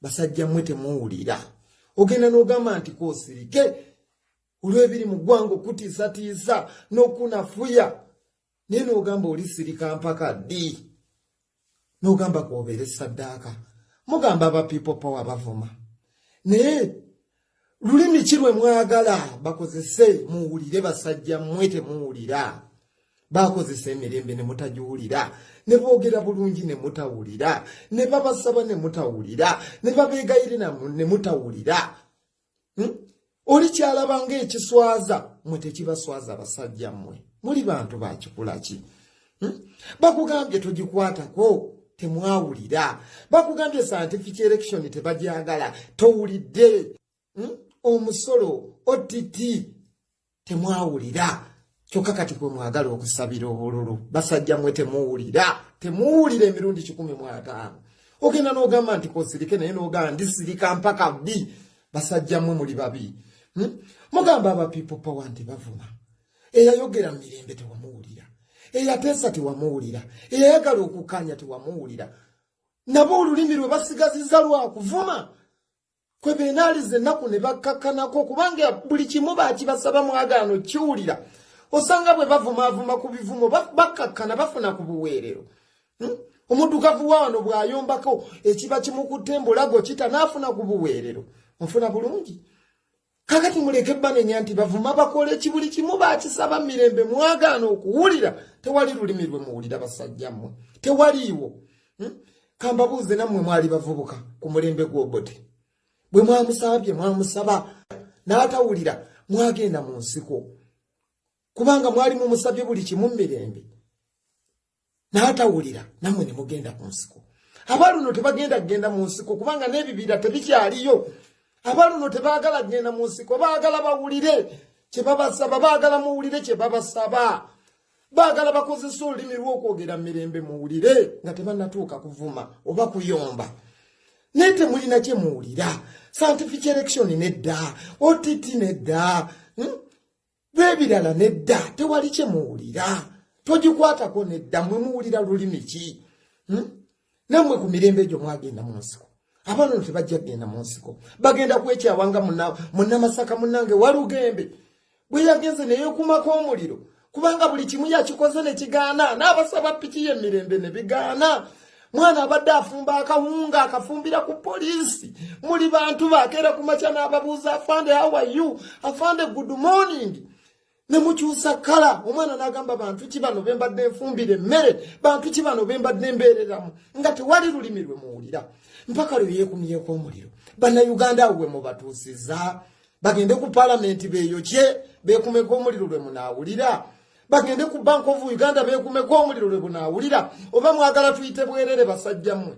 basajja mwe temuwulira ogenda n'ogamba nti kosirike olw'ebiri mu ggwanga okutiisatiisa n'okunafuya naye n'ogamba oli sirika mpaka ddi n'ogamba kwobeere saddaaka mugamba aba people power bavuma naye lulimi ki lwe mwagala bakozese muwulire basajja mmwe temuwulira bakozesa emirembe ne mutagiwulira ne boogera bulungi ne mutawulira ne babasaba ne mutawulira ne babeegayirira ne mutawulira hmm? oli kyalaba ng'ekiswaza mwe tekibaswaza basajja mmwe muli bantu bakikula ki hmm? bakugambye togikwatako temwawulira bakugambye scientific election tebajagala towulidde hmm? omusolo ott temwawulira kyokka kati kwe mwagala okusabira obululu basajja mwe temuwulira temuwulira emirundi kikumi mwataano ogenda n'ogamba nti kosirike naye n'ogamba ndisirika mpaka bbi basajja mwe muli babi hmm? mugamba aba people power nti bavuma eyayogera mu mirembe tewamuwulira eyateesa tewamuwulira eyayagala okukanya tewamuwulira nabo olulimi lwe basigaziza lwakuvuma kwe benaaliza ennaku ne bakkakkanako kubanga buli kimu bakibasaba mwagaano kiwulira osanga bwe bavumaavuma ku bivumo bakkakkana bafuna ku buweerero hmm? omuddugavu wa wano bw'ayombako ekiba kimukutte embulago kita n'afuna ku buweerero nfuna bulungi kakati muleke banenya nti bavuma bakola ekibuli kimu bakisaba mirembe mwagaana okuwulira tewali lulimi lwe muwulira basajja mmwe tewaliiwo hmm? kambabuuze nammwe mwali bavubuka ku mulembe gw'obote bwe mwamusabye mwamusaba n'atawulira mwagenda mu nsiko kubanga mwali mumusabye buli kimu mirembe n'atawulira nammwe ne mugenda ku nsiko abaluno tebagenda kugenda mu nsiko kubanga n'ebibira tebikyaliyo abaluno tebaagala kugenda mu nsiko baagala bawulire kye babasaba baagala muwulire kye babasaba baagala bakozesa olulimi lw'okwogera mirembe muwulire nga tebanatuuka kuvuma oba kuyomba naye temulina kye muwulira scientific election nedda ott nedda hmm? bwebirala nedda tewali kyemuwulira togikwatako nedda mwe muwulira lulimi ki hmm? namwe ku mirembe egyo mwagenda mu nsiko abaana ono tebajja kugenda mu nsiko bagenda kwekyawanga munamasaka munange walugembe bwe yagenze neyekumako omuliro kubanga buli kimu yakikoze nekigaana n'abasaba piki yemirembe nebigaana mwana abadde afumba akawunga akafumbira ku poliisi muli bantu bakeera ku makya n'ababuuza afande how are you afande good morning ne mukyusa kala omwana n'agamba bantu ki bano be mbadde nfumbira emmere bantu ki bano be mbadde mbeereramu nga tewali lulimi lwe muwulira mpaka lwe yeekumyeko omuliro bannayuganda awo we mubatuusiza bagende ku palamenti beyokye bekumeko omuliro lwe munaawulira bagende ku bank of uganda bekumeko omuliro lwe bunaawulira oba mwagala tuyite bwerere basajjamwe